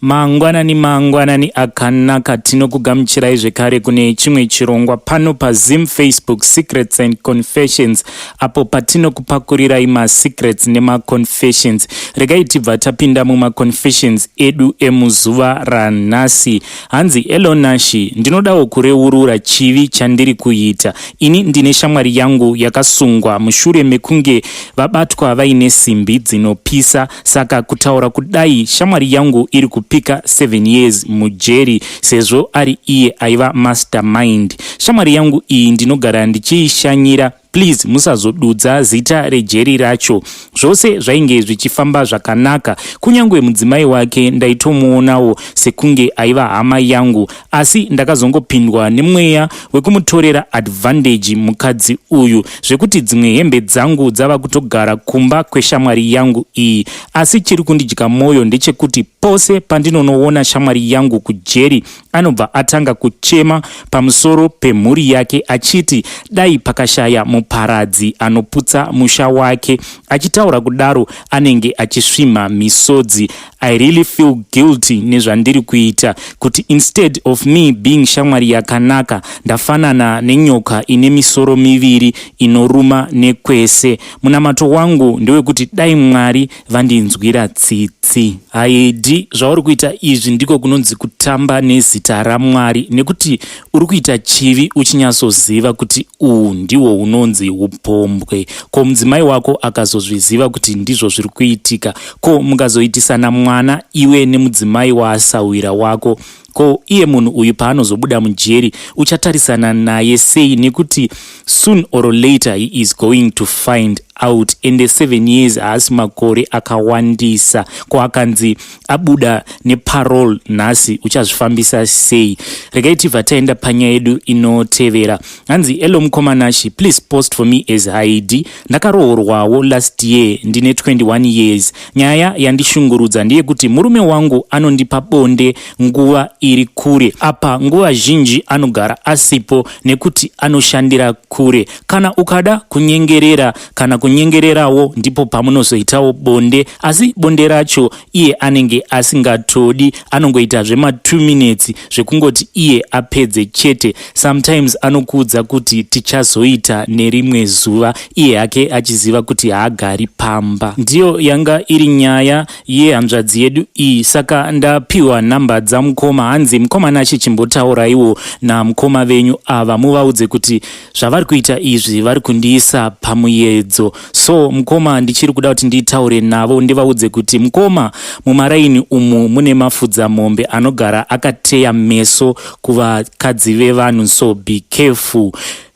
Mangwanani mangwanani akanaka tinokugamuchirai zvekare kune chimwe chirongwa pano paZim Facebook Secrets and Confessions apo patinokupakurirai masecrets nemaconfessions. Regai tibva tapinda mumaconfessions edu emuzuva ranhasi. Hanzi Elo Nashi, ndinodawo kureurura chivi chandiri kuita. Ini ndine shamwari yangu yakasungwa mushure mekunge vabatwa vaine simbi dzinopisa Saka kutaura kudai shamwari yangu iri kupika 7 years mujeri sezvo ari iye aiva mastermind. Shamwari yangu iyi ndinogara ndichiishanyira please musazodudza zita rejeri racho. Zvose zvainge zvichifamba zvakanaka kunyange mudzimai wake ndaitomuonawo sekunge aiva hama yangu asi ndakazongopindwa nemweya wekumutorera advantage mukadzi uyu zvekuti dzimwe hembe dzangu dzava kutogara kumba kweshamwari yangu iyi asi chiri kundidya mwoyo ndechekuti pose pandinonoona shamwari yangu kujeri anobva atanga kuchema pamusoro pemhuri yake achiti dai pakashaya muparadzi anoputsa musha wake achitaura kudaro anenge achisvimha misodzi I really feel guilty nezvandiri kuita kuti instead of me being shamwari yakanaka ndafanana nenyoka ine misoro miviri inoruma nekwese. Munamato wangu ndewekuti dai Mwari vandinzwira tsitsi. Haidi zvauri kuita izvi ndiko kunonzi kutamba nezita raMwari nekuti Uri kuita chivi uchinyatsoziva kuti uhwu ndihwo hunonzi upombwe. Ko mudzimai wako akazozviziva kuti ndizvo zviri kuitika? Ko mukazoitisana mwana iwe nemudzimai waasahwira wako, ko iye munhu uyu paanozobuda mujeri uchatarisana naye sei nekuti soon or later he is going to find out ende seven years haasi makore akawandisa. Ko akanzi abuda neparol nhasi uchazvifambisa sei regai tibva taenda panyaya yedu inotevera hanzi elo mukomanashi please post for me as haidi ndakaroorwawo last year ndine 21 years nyaya yandishungurudza ndeyekuti murume wangu anondipa bonde nguva iri kure apa nguva zhinji anogara asipo nekuti anoshandira kure Kana ukada kunyengerera kana kunyengererawo ndipo pamunozoitawo bonde asi bonde racho iye anenge asingatodi anongoita zvema 2 minutes zvekungoti iye apedze chete. Sometimes anokuudza kuti tichazoita nerimwe zuva iye hake achiziva kuti haagari pamba. Ndiyo yanga iri nyaya yehanzvadzi yedu iyi saka ndapiwa nhamba dzamukoma hanzi mukoma Nashe chimbotauraiwo namukoma venyu ava muvaudze kuti zvavari kuita izvi vari kundiisa pamuyedzo so mukoma ndichiri kuda kuti nditaure navo ndivaudze kuti mukoma mumaraini umu mune mafudzamombe anogara akateya meso kuvakadzi vevanhu so be careful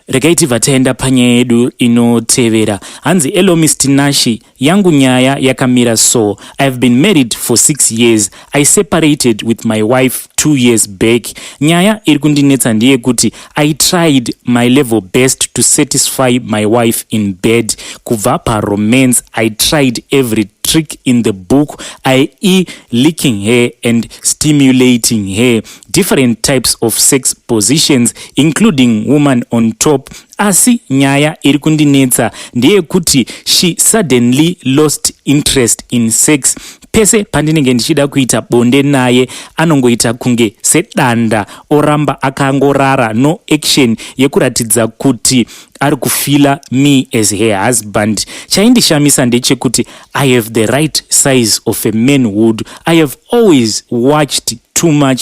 regai tibva taenda panyaya yedu inotevera hanzi elo mr nashi Yangu nyaya yakamira so, I've been married for six years, I separated with my wife two years back. Nyaya iri kundinetsa ndeyekuti I tried my level best to satisfy my wife in bed. Kubva paromance, I tried every trick in the book, i.e. licking her and stimulating her, different types of sex positions, including woman on top Asi nyaya iri kundinetsa ndeyekuti she suddenly lost interest in sex pese pandinenge ndichida kuita bonde naye anongoita kunge sedanda oramba akangorara no action yekuratidza kuti ari kufila me as her husband chaindishamisa ndechekuti i have the right size of a manhood i have always watched too much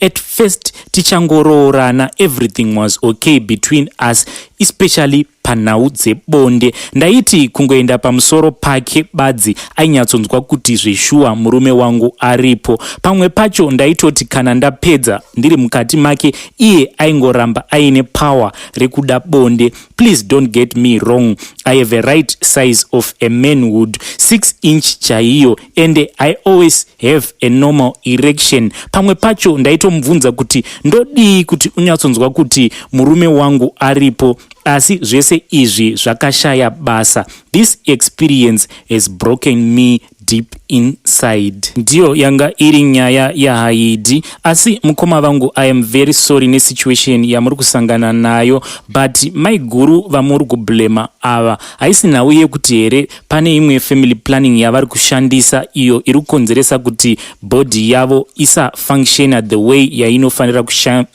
At first tichangoroorana everything was okay between us especially panhau dzebonde ndaiti kungoenda pamusoro pake badzi ainyatsonzwa kuti zveshuwa murume wangu aripo pamwe pacho ndaitoti kana ndapedza ndiri mukati make iye aingoramba aine power rekuda bonde please don't get me wrong i have a right size of a manhood 6 inch chaiyo and i always have a normal erection pamwe pacho ndaitomubvunza kuti ndodii kuti unyatsonzwa kuti murume wangu aripo asi zvese izvi zvakashaya basa this experience has broken me deep inside ndiyo yanga iri nyaya yahaidi asi mukoma vangu i am very sorry nesituation yamuri kusangana nayo but maiguru vamuri kublema ava haisi nhau yekuti here pane imwe family planning yavari kushandisa iyo iri kukonzeresa kuti body yavo isafunctiona the way yainofanira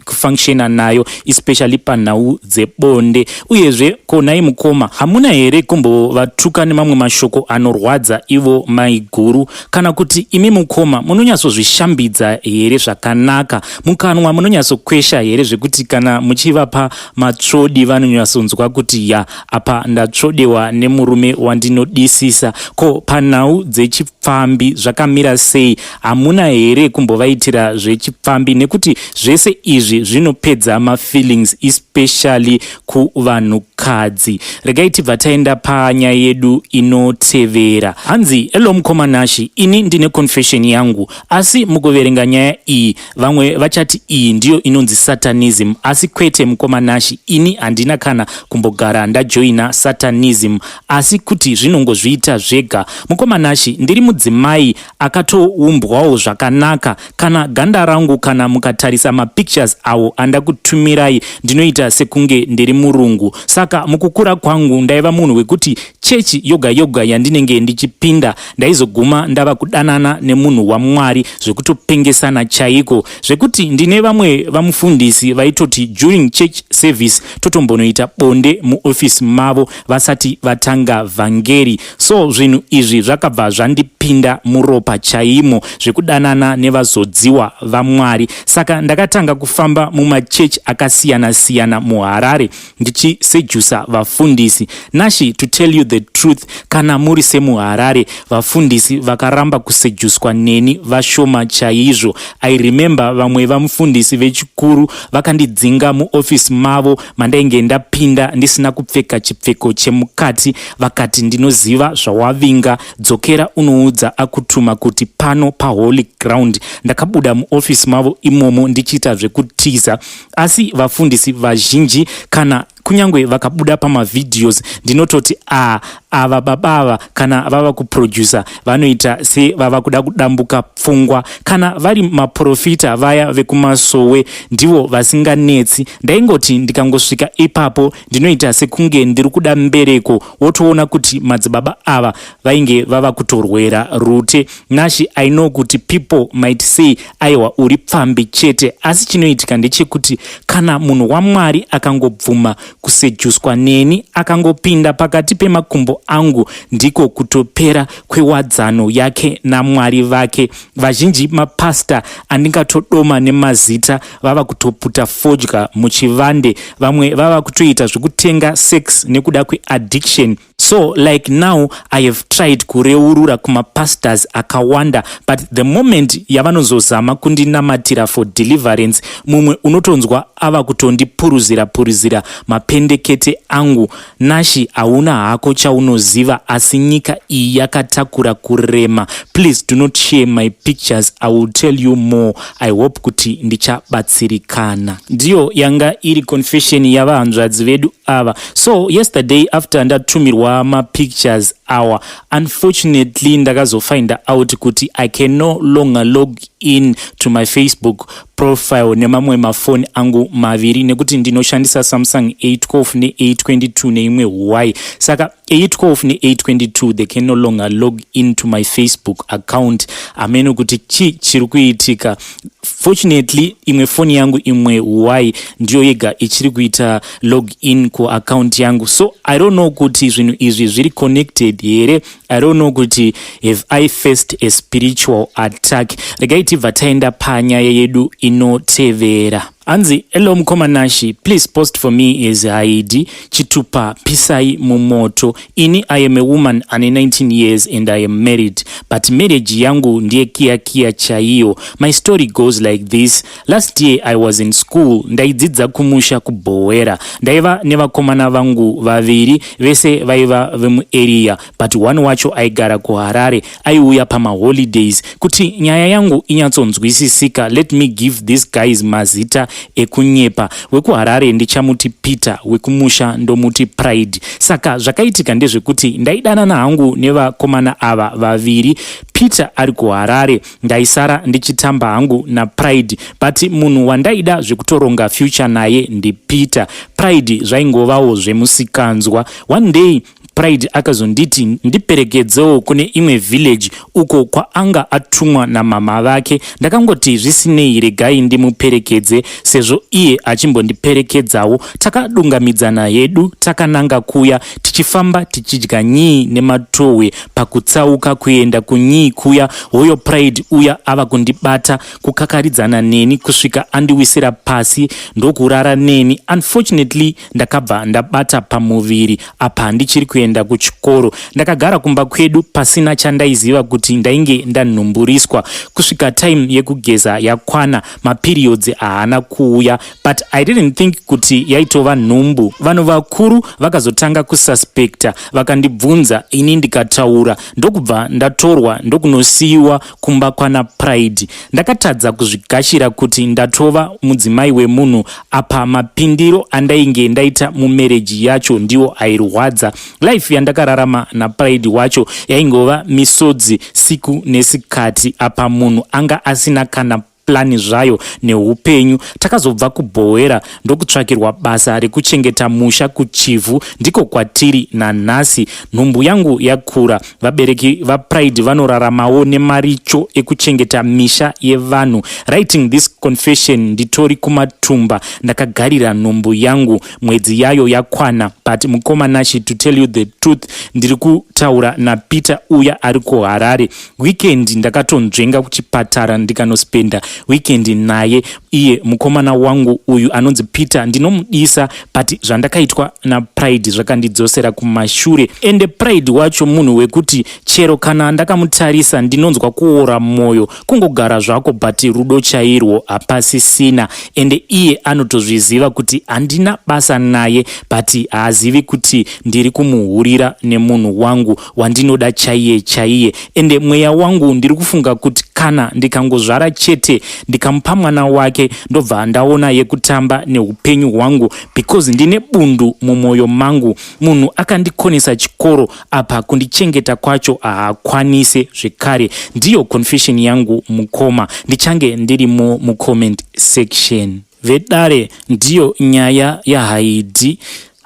kufunctiona nayo especially panhau dzebonde uyezve konai mukoma hamuna here kumbovatuka nemamwe mashoko anorwadza ivo maiguru kana kuti imi mukoma munonyatsozvishambidza here zvakanaka mukanwa munonyatsokwesha here zvekuti kana muchivapa matsvodi vanonyatsonzwa kuti ya apa ndatsvodewa nemurume wandinodisisa ko panhau dzechipfambi zvakamira sei hamuna here kumbovaitira zvechipfambi nekuti zvese izvi zvinopedza mafeelings especially kuvanhukadzi regai tibva taenda panyaya yedu inotevera hanzi elo mukoma nashi ini ndine confession yangu asi mukuverenga nyaya iyi Vamwe vachati iyi ndiyo inonzi satanism asi kwete mukoma Nashi ini handina kana kumbogara ndajoina satanism asi kuti zvinongozviita zvega. Mukoma Nashi ndiri mudzimai akatoumbwawo zvakanaka kana ganda rangu kana mukatarisa mapictures awo andakutumirai ndinoita sekunge ndiri murungu saka mukukura kwangu ndaiva munhu wekuti Chechi yoga yoga yandinenge ndichipinda ndaizoguma ndava kudanana nemunhu waMwari zvekutopengesana chaiko zvekuti ndine vamwe vamufundisi vaitoti during church service totombonoita bonde muofisi mavo vasati vatanga vhangeri so zvinhu izvi zvakabva zvandipinda muropa chaimo zvekudanana nevazodziwa vaMwari saka ndakatanga kufamba mumachechi akasiyana siyana muHarare ndichisejusa vafundisi nashi to tell you the truth kana muri semuharare vafundisi vakaramba kusejuswa neni vashoma chaizvo i remember vamwe vamufundisi vechikuru vakandidzinga muofisi mavo mandainge ndapinda ndisina kupfeka chipfeko chemukati vakati ndinoziva zvawavinga dzokera unoudza akutuma kuti pano paholy ground ndakabuda muofisi mavo imomo ndichiita zvekutiza asi vafundisi vazhinji kana kunyange vakabuda pamavideos ndinototi a ava baba ava kana vava kuproducer vanoita sevava kuda kudambuka pfungwa kana vari maprofita vaya vekumasowe ndivo vasinganetsi ndaingoti ndikangosvika ipapo Ndinoita sekunge ndiri kuda mbereko wotoona kuti madzibaba ava vainge vava kutorwera Rute. Nashy I know kuti people might say aiwa uri pfambi chete asi chinoitika ndechekuti kana munhu waMwari akangobvuma kusejuswa neni akangopinda pakati pemakumbo angu ndiko kutopera kwewadzano yake naMwari vake. Vazhinji mapastor andingatodoma nemazita vava kutoputa fodya muchivande vamwe vava kutoita zvekutenga sex nekuda kweaddiction so like now i have tried kureurura kumapastors akawanda but the moment yavanozozama kundinamatira for deliverance mumwe unotonzwa ava kutondipuruzira puruzira mapendekete angu Nashy hauna hako chaunoziva asi nyika iyi yakatakura kurema please do not share my pictures i will tell you more i hope kuti ndichabatsirikana ndiyo yanga iri confession yavahanzvadzi vedu ava so yesterday after ndatumirwa mapictures awa unfortunately ndakazofinda out kuti i can no longer log in to my facebook profile nemamwe mafoni angu maviri nekuti ndinoshandisa samsung a12 ne822 neimwe huwai saka a12 ne822 they can no longer log in to my facebook account ameno kuti chi chiri kuitika fortunately imwe foni yangu imwe huwai ndiyo yega ichiri kuita log in kuaccount yangu so i don't know kuti zvinhu izvi zviri connected here I don't know kuti have I faced a spiritual attack. Regai tibva taenda panyaya yedu inotevera. Anzi, hello mukoma Nashi, please post for me his ID chitupa pisai mumoto. Ini I am a woman ane 19 years and I am married, but marriage yangu ndiye kia kia chaiyo. My story goes like this, Last year I was in school ndaidzidza kumusha kubhowera ndaiva nevakomana vangu vaviri vese vaiva vemuarea but one wacho aigara kuharare aiuya pamaholidays kuti nyaya yangu inyatsonzwisisika let me give these guys mazita ekunyepa wekuharare ndichamuti peter wekumusha ndomuti pride saka zvakaitika ndezvekuti ndaidanana hangu nevakomana ava vaviri peter ari kuharare ndaisara ndichitamba hangu napride but munhu wandaida zvekutoronga future naye ndipeter pride zvaingovawo zvemusikanzwa one day pride akazonditi ndiperekedzewo kune imwe village uko kwaanga atumwa namama vake ndakangoti zvisinei regai ndimuperekedze sezvo iye achimbondiperekedzawo takadungamidzana hedu takananga kuya tichifamba tichidya nyii nematohwe pakutsauka kuenda kunyii kuya hoyo pride uya ava kundibata kukakaridzana neni kusvika andiwisira pasi ndokurara neni unfortunately ndakabva ndabata pamuviri apa handichiri kuenda kuchikoro ndakagara kumba kwedu pasina chandaiziva kuti ndainge ndanhumburiswa kusvika time yekugeza yakwana maperiodzi haana kuuya but i didn't think kuti yaitova nhumbu vanhu vakuru vakazotanga kususpecta vakandibvunza ini ndikataura ndokubva ndatorwa ndokunosiyiwa kumba kwana pride ndakatadza kuzvigashira kuti ndatova mudzimai wemunhu apa mapindiro andainge ndaita mumereji yacho ndiwo airwadza life yandakararama napride wacho yaingova misodzi siku nesikati apa munhu anga asina kana plan zvayo nehupenyu takazobva kubhohwera ndokutsvakirwa basa rekuchengeta musha kuchivhu ndiko kwatiri nanhasi nhumbu yangu yakura vabereki vapride vanoraramawo nemaricho ekuchengeta misha yevanhu writing this confession nditori kumatumba ndakagarira nhumbu yangu mwedzi yayo yakwana but mukoma nashi to tell you the truth ndiri kutaura napeter uya ari kuharare weekend ndakatonzvenga kuchipatara ndikanospenda weekend naye iye mukomana wangu uyu anonzi peter ndinomudisa but zvandakaitwa napride zvakandidzosera kumashure ende pride wacho munhu wekuti chero kana ndakamutarisa ndinonzwa kuora mwoyo kungogara zvako but rudo chairwo hapasisina ende iye anotozviziva kuti handina basa naye but haazivi kuti ndiri kumuhurira nemunhu wangu wandinoda chaiye chaiye ende mweya wangu ndiri kufunga kuti kana ndikangozvara chete ndikamupa mwana wake ndobva ndaona yekutamba neupenyu hwangu because ndine bundu mumwoyo mangu munhu akandikonesa chikoro apa kundichengeta kwacho haakwanise zvekare ndiyo confession yangu mukoma ndichange ndirimo mucomment section Vedare ndiyo nyaya yahaidi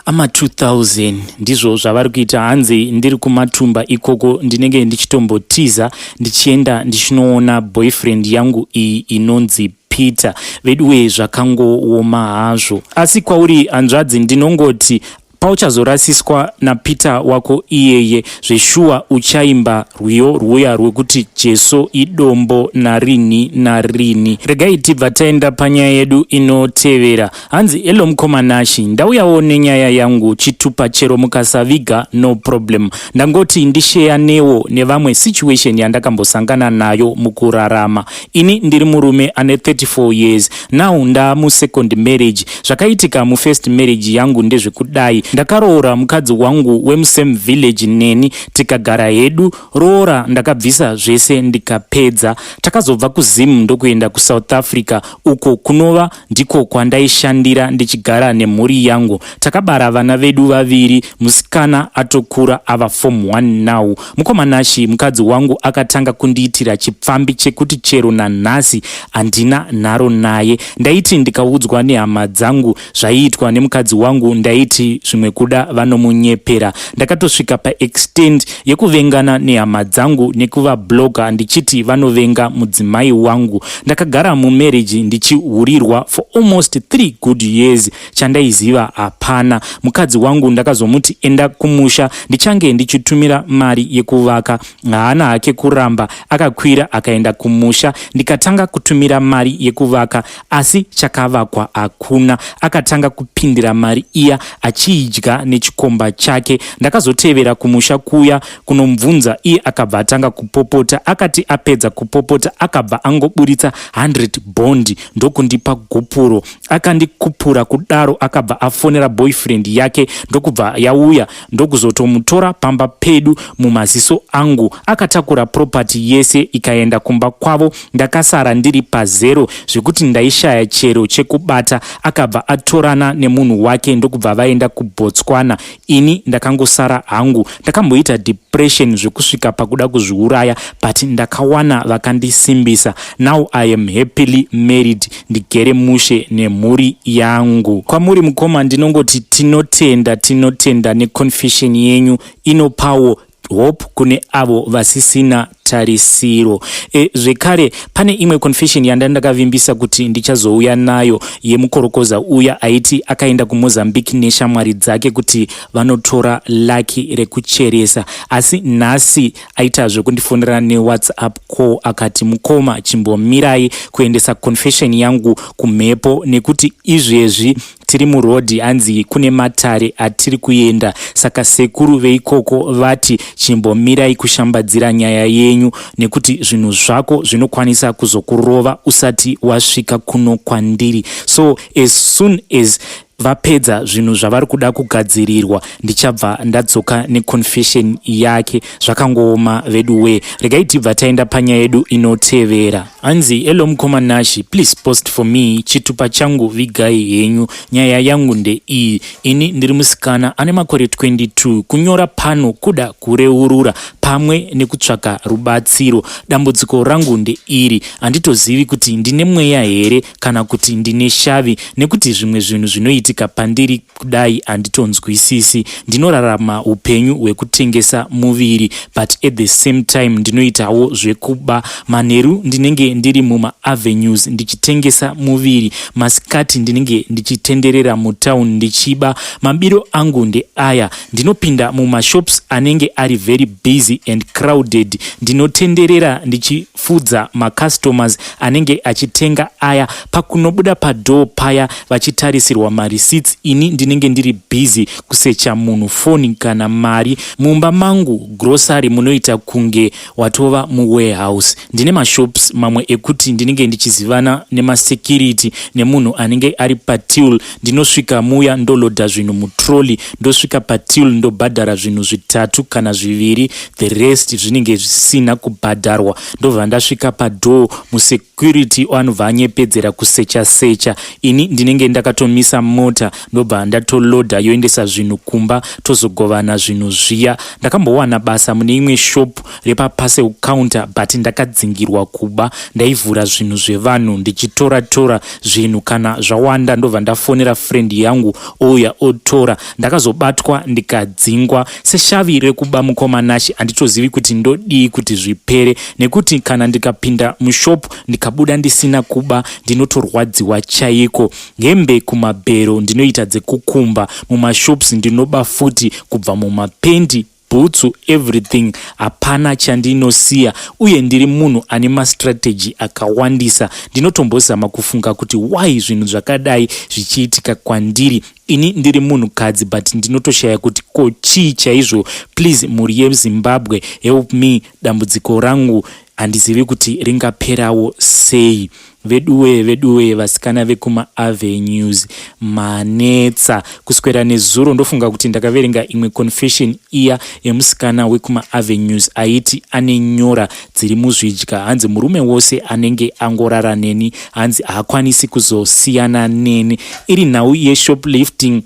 ama 2000 ndizvo zvavari kuita hanzi ndiri kumatumba ikoko ndinenge ndichitombotiza ndichienda ndichinoona boyfriend yangu iyi inonzi peter veduwe zvakangooma hazvo asi kwauri hanzvadzi ndinongoti Pauchazorasiswa naPeter wako iyeye zveshuwa uchaimba rwiyo rwuya rwekuti Jesu idombo narinhi narinhi. Regai tibva taenda panyaya yedu inotevera. Hanzi hello mkoma Nashy ndauyawo nenyaya yangu chitupa chero mukasaviga no problem. Ndangoti ndisheyanewo nevamwe situation yandakambosangana nayo mukurarama. Ini ndiri murume ane 34 years now ndaamusecond marriage. Zvakaitika mufirst marriage yangu ndezvekudai. Ndakaroora mukadzi wangu wemusame village neni tikagara hedu. Roora ndakabvisa zvese ndikapedza. Takazobva kuZim ndokuenda kuSouth Africa uko kunova Ndiko kwandaishandira ndichigara nemhuri yangu. Takabara vana vedu vaviri, musikana atokura ava form 1 now. Mukoma Nashy, mukadzi wangu akatanga kundiitira chipfambi chekuti chero nanhasi handina nharo naye. Ndaiti ndikaudzwa nehama dzangu zvaiitwa nemukadzi wangu ndaiti zvimwe kuda vanomunyepera. Ndakatosvika paextend yekuvengana nehama dzangu nekuvablocker ndichiti vanovenga mudzimai wangu. Ndakagara mumarriage ndichihurirwa for almost 3 good years chandaiziva hapana. Mukadzi wangu ndakazomuti enda kumusha ndichange ndichitumira mari yekuvaka. Haana hake kuramba akakwira akaenda kumusha ndikatanga kutumira mari yekuvaka asi chakavakwa hakuna. Akatanga kupindira mari iya achiidya nechikomba chake. Ndakazotevera kumusha kuya kunomubvunza iye akabva atanga kupopota akati apedza kupopota akabva angoburitsa 100 bondi ndokundipa gupuro akandikupura kudaro akabva afonera boyfriend yake ndokubva yauya ndokuzotomutora pamba pedu mumaziso angu akatakura property yese ikaenda kumba kwavo ndakasara ndiri pazero zvekuti ndaishaya chero chekubata akabva atorana nemunhu wake ndokubva vaenda kubotswana Ini ndakangosara hangu ndakamboita depression zvekusvika pakuda kuzviuraya but ndakawana vakandisimbisa now I am happily married ndigere mushe nemhuri yangu. Kwamuri mukoma ndinongoti tinotenda tinotenda neconfession yenyu inopawo hope kune avo vasisina tarisiro e, zvekare pane imwe confession yanda ndakavimbisa kuti ndichazouya nayo yemukorokoza uya aiti akaenda kumozambique neshamwari dzake kuti vanotora laki rekucheresa asi nhasi aita zvekundifonera newhatsapp call akati mukoma chimbomirai kuendesa confession yangu kumhepo nekuti izvezvi Tiri muroad hanzi kune matare atiri kuenda saka sekuru veikoko vati chimbomirai kushambadzira nyaya yenyu nekuti zvinhu zvako zvinokwanisa kuzokurova usati wasvika kuno kwandiri so as soon as vapedza zvinhu zvavari kuda kugadzirirwa ndichabva ndadzoka neconfession yake zvakangooma veduwee regai tibva taenda panyaya yedu inotevera Hanzi hello mukoma Nashi please post for me chitupa changu vigai henyu nyaya yangu ndeiyi ini ndiri musikana ane makore 22 kunyora pano kuda kureurura pamwe nekutsvaka rubatsiro dambudziko rangu ndeiri handitozivi kuti ndine mweya here kana kuti ndine shavi nekuti zvimwe zvinhu zvinoitika pandiri kudai handitonzwisisi ndinorarama upenyu hwekutengesa muviri but at the same time ndinoitawo zvekuba manheru ndinenge ndiri mumaavenues ndichitengesa muviri masikati ndinenge ndichitenderera mutown ndichiba mabiro angu ndeaya ndinopinda mumashops anenge ari very busy and crowded ndinotenderera ndichi fudza ma customers anenge achitenga aya pakunobuda pa door paya vachitarisirwa ma receipts ini ndinenge ndiri busy kusecha munhu phone kana mari mumba mangu grocery munoita kunge watova mu warehouse ndine ma shops mamwe ekuti ndinenge ndichizivana nema security nemunhu anenge ari pa till ndinosvika muya ndoloda zvinhu mutrolly ndosvika patil ndobhadhara zvinhu zvitatu kana zviviri the rest zvinenge zvisina kubhadharwa ndobva ndasvika padoor musecurity anobva anyepedzera kusecha secha ini ndinenge ndakatomisa mota ndobva ndatoloda yoendesa zvinhu kumba tozogovana zvinhu zviya ndakambowana basa mune imwe shop repaparcel counter but ndakadzingirwa kuba ndaivhura zvinhu zvevanhu ndichitora tora zvinhu kana zvawanda ndobva ndafonera friend yangu ouya otora ndakazobatwa ndikadzingwa seshavi rekuba mukoma nashe handitozivi kuti ndodii kuti zvipere nekuti kana ndikapinda mushop ndikabuda ndisina kuba ndinotorwadziwa chaiko hembe kumabhero ndinoita dzekukumba mumashops ndinoba futi kubva mumapendi bhutsu everything hapana chandinosiya uye ndiri munhu ane mastrategy akawandisa ndinotombozama kufunga kuti why zvinhu zvakadai zvichiitika kwandiri ini ndiri munhukadzi but ndinotoshaya kuti ko chii chaizvo please mhuri yezimbabwe help me dambudziko rangu handizivi kuti ringaperawo sei Veduwee veduwee vasikana vekuma avenues manetsa kuswera nezuro ndofunga kuti ndakaverenga imwe confession iya yemusikana wekuma avenues aiti ane nyora dziri muzvidya hanzi murume wose anenge angorara neni hanzi haakwanisi kuzosiyana neni iri nhau yeshoplifting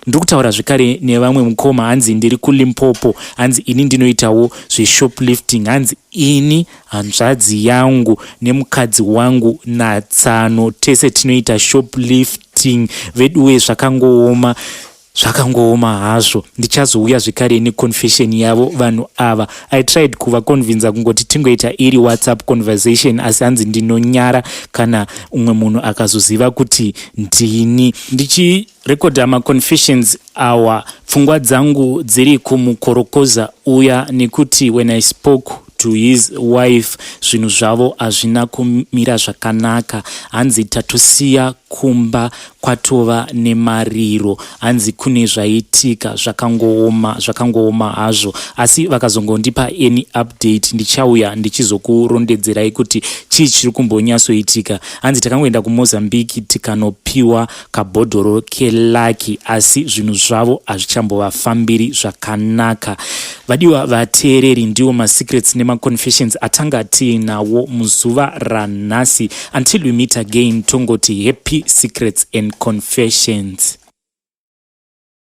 ndiri kutaura zvekare nevamwe mukoma hanzi ndiri kulimpopo hanzi ini ndinoitawo zveshoplifting hanzi ini Hanzvadzi yangu nemukadzi wangu naTsano tese tinoita shoplifting veduwe zvakangooma zvakangooma hazvo ndichazouya zvekare neconfession yavo vanhu ava i tried kuvaconvinza kungoti tingoita iri whatsapp conversation asi hanzi ndinonyara kana umwe munhu akazoziva kuti ndini ndichi Record ama confessions awa pfungwa dzangu dziri kumukorokoza uya nekuti when I spoke to his wife zvinhu zvavo hazvina kumira zvakanaka hanzi tatosiya kumba kwatova nemariro hanzi kune zvaitika zvakangooma zvakangooma hazvo asi vakazongondipa any update ndichauya ndichizokurondedzerai kuti chii chiri kumbonyatsoitika hanzi takangoenda kumozambique tikanopiwa kabhodhoro kelaki asi zvinhu zvavo hazvichambovafambiri zvakanaka vadiwa vateereri ndiwo masecrets nemaconfessions atanga tiinawo muzuva ranhasi until we meet again tongoti happy secrets and confessions